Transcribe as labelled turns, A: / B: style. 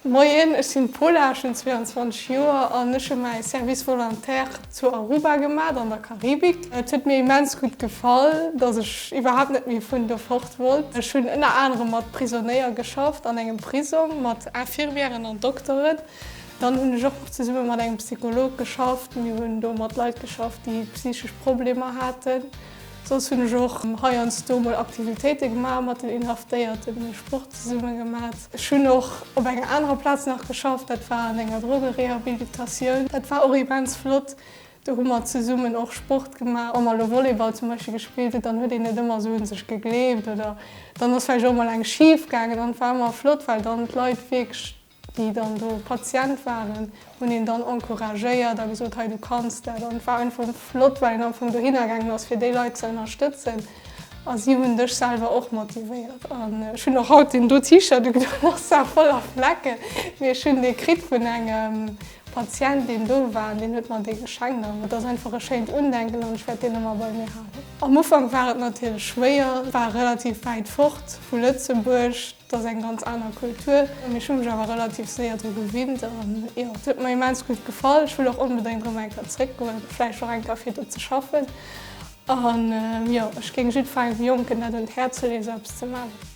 A: Moien, ech sinn d'Pola, ech hunn 22 Joer an ech hu mäi Service volontaire zu Aruba gemat, an der Karibik. Et huet mir immens gutt gefall, dass ech iwwerhaapt net méi vun do fort wollt. Ech hunn ënner anerem mat Prisonéier geschafft an engem Prisong, mat Infirmièren an Dokteren. Dann hunn ech och zesumme mat engem Psycholog geschafft. Mir hunn do mat Leit geschafft, déi psychesch Problemer haten. Soss hunn ech och heiansdo mol Aktivitéite gemaach mat den Inhaftéierten, hunn Sport zesumme gemat. Ech hunn och op enger anerer Plaz nach geschafft, dat war an enger Drogerehabilitatioun. Dat war och immens flott, do hu mer zesummen och Sport gemaach. Wa mer elo Volleyball zum Beispill gespillt hunn, dann huet een net ëmmer esou u sech gegleeft oder dann ass vläicht och mol eng schif gaangen an et war ëmmer flott, well dann d'Leit wierklech déi dann do Patient waren, hunn een dann encouragéiert a gesot, hei du kanns dat. An et war einfach flott, well een am Fong dohinner gaangen ass, fir déi Leit ze ënnerstëtzen. A si hunn dech selwer och motivéiert. An ech hunn och haut deen do T-Shirt un, deen ass zwar voller Flecken, mee ech hunn dee kritt vun engem Patient, deen do war an deen huet mer dee geschenkt. An et ass einfach e schéint Undenken an ech wäert deen ëmmer bei mir halen. Am Ufank war et natierlech schwéier, war relativ wäit fort vu Lëtzebuerg. Et ass eng ganz aner Kultur, mee ech hu mech awer relativ séier dru gewinnt. An jo, et huet mer immens gutt gefall. Ech wëll och onbedéngt erëm eng Kéier zréckgoen, vläicht och eng Kéier fir do ze schaffen. An jo, ech géing jiddwerengem Jonken dat un d'Häerz leeë sou eppes ze maachen.